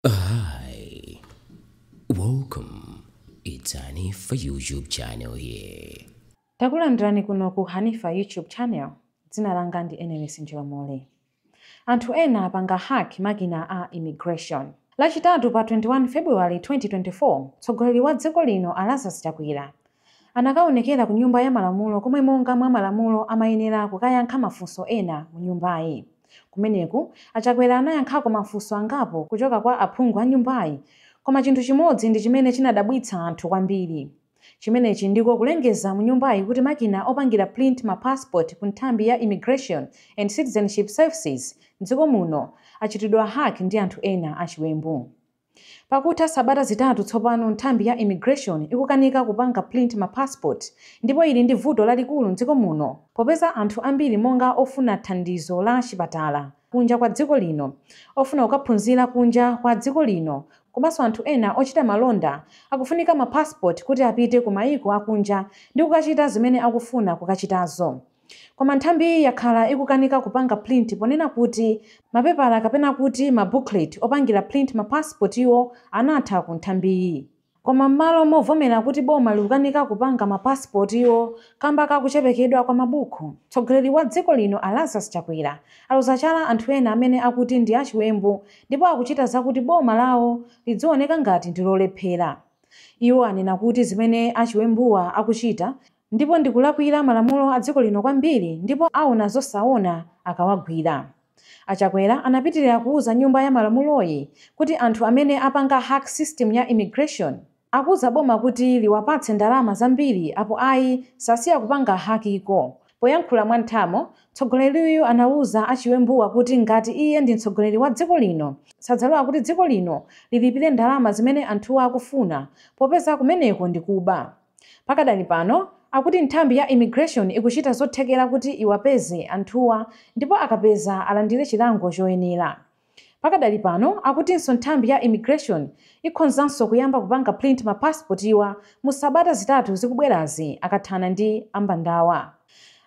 Hi, welcome. It's Hanifa YouTube channel here. Takulandirani kuno ku Hanifa YouTube channel. Dzina langa ndi Enelis Njolomole. Anthu ena apanga hack makina a immigration. Lachitatu pa 21 February 2024, mtsogoleri wa dziko lino a Lazarus Chakwera Anakaonekera ku Nyumba ya Malamulo komwe monga mwa malamulo amayenera kukayankha mafunso ena mu nyumbayi. Kumeneku, a Chakwera anayankhako mafunso angapo kuchoka kwa aphungu a nyumbayi koma chinthu chimodzi ndi chimene chinadabwitsa anthu kwambiri. Chimenechi ndiko kulengeza mu nyumbayi kuti makina opangira print ma passport ku nthambi ya Immigration and Citizenship Services m'dziko muno achitidwa hack ndi anthu ena achiwembu. Pakutha sabata zitatu tsopano nthambi ya immigration ikukanika kupanga print ma passport ndipo ili ndi vuto lalikulu mdziko muno popeza anthu ambiri monga ofuna thandizo la chipatala kunja kwa dziko lino, ofuna kukaphunzira kunja kwa dziko lino komanso anthu ena ochita malonda akufunika ma passport kuti apite ku maiko akunja ndi kukachita zimene akufuna kukachitazo. Koma nthambiyi yakhala ikukanika kupanga print ponena kuti mapepala kapena kuti ma booklet opangira print ma passport wo anatha ku nthambiyi. Koma mmalo movomera kuti boma likukanika kupanga ma passport wo kamba ka kuchepekedwa kwa mabuku, mtsogoleri wa dziko lino a Lazarus Chakwera aloza chala anthu ena amene akuti ndi achiwembu ndipo akuchita zakuti boma lawo lidzioneka ngati ndi lolephera. Iwo anena kuti zimene achiwembuwa akuchita ndipo ndikulakwira malamulo adziko lino kwambiri ndipo aona zosaona akawagwira. A Chakwera anapitilira kuuza nyumba ya malamuloyi kuti anthu amene apanga hack system ya immigration akuuza boma kuti liwapatse ndalama zambiri apo ayi sasiya kupanga hakiko. Poyankhula mwa nthamo, mtsogoleriyu anauza achiwembuwa kuti ngati iye ndi mtsogoleri wa dziko lino sadzalola kuti dziko lino lilipire ndalama zimene anthuwa akufuna popeza kumeneko ndi kuba. Pakadali pano akuti nthambi ya immigration ikuchita zothekera kuti iwapeze anthuwa ndipo akapeza alandire chilango choyenera. Pakadali pano akutinso nthambi ya immigration ikhonzanso kuyamba kupanga print ma passport wa mu sabata zitatu zikubwerazi akathana ndi ambandawa.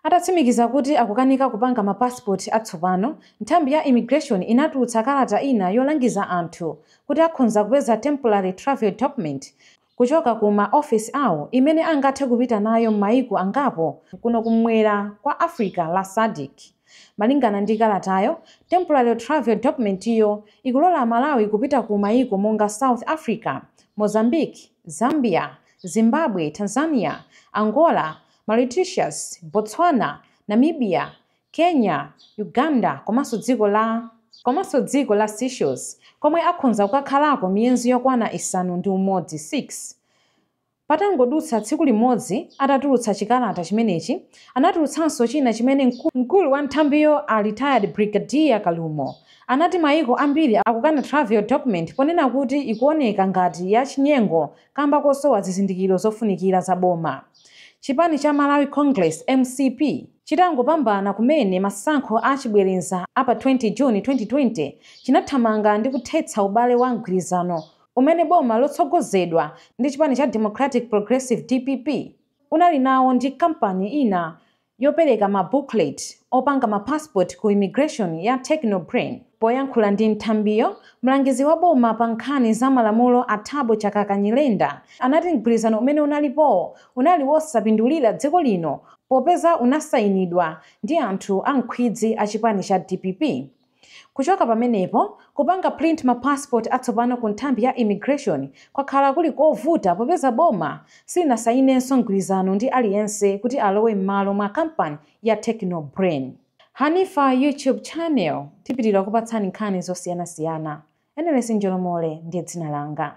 Atatsimikiza kuti akukanika kupanga ma passport atsopano, nthambi ya immigration inatulutsa kalata ina yolangiza anthu kuti akhonza kupeza temporary travel document kuchoka ku ma ofisi awo imene angathe kupita nayo mmaiko angapo kuno kummwera kwa Africa la Sadc. Malingana ndi kalatayo, Temporary Travel Document yo ikulola Amalawi kupita ku maiko monga South Africa, Mozambique, Zambia, Zimbabwe, Tanzania, Angola, Mauritius, Botswana, Namibia, Kenya, Uganda komanso dziko la Seychelles komwe akhonza kukakhalako miyezi yokwana isanu ndi umodzi 6. Patangodutsa tsiku limodzi atatulutsa chikalata chimenechi, anatulutsanso china chimene mkulu wa nthambiyo a Retired Brigadier Kalumo anati mayiko ambiri akukana travel document ponena kuti ikuoneka ngati ya chinyengo kamba kosowa zizindikiro zofunikira za boma. Chipani cha Malawi Congress, mcp, chitangopambana kumene masankho a chibwereza a pa 20 June 2020, chinathamanga ndi kuthetsa ubale wa mgwirizano umene boma lotsogozedwa ndi chipani cha Democratic Progressive, dpp, unali nawo ndi kampani ina yopereka ma booklet opanga ma passport ku immigration ya Techno Brain. Poyankhula ndi nthambiyo, mlangizi wa boma pa nkhani za malamulo a Thabo Chakaka Nyirenda anati mgwirizano umene unalipowo unali wosapindulira dziko lino popeza unasayinidwa ndi anthu a nkhwidzi a chipani cha dpp. Kuchoka pamenepo, kupanga print ma passport atsopano ku nthambi ya immigration kwakhala kuli kovuta popeza boma silinasayinenso mgwirizano ndi aliyense kuti alowe mmalo mwa kampani ya Techno Brain. Hanifa YouTube Channel, tipitira kupatsani nkhani zosiyanasiyana. Enelesi Njolomole ndi dzina langa.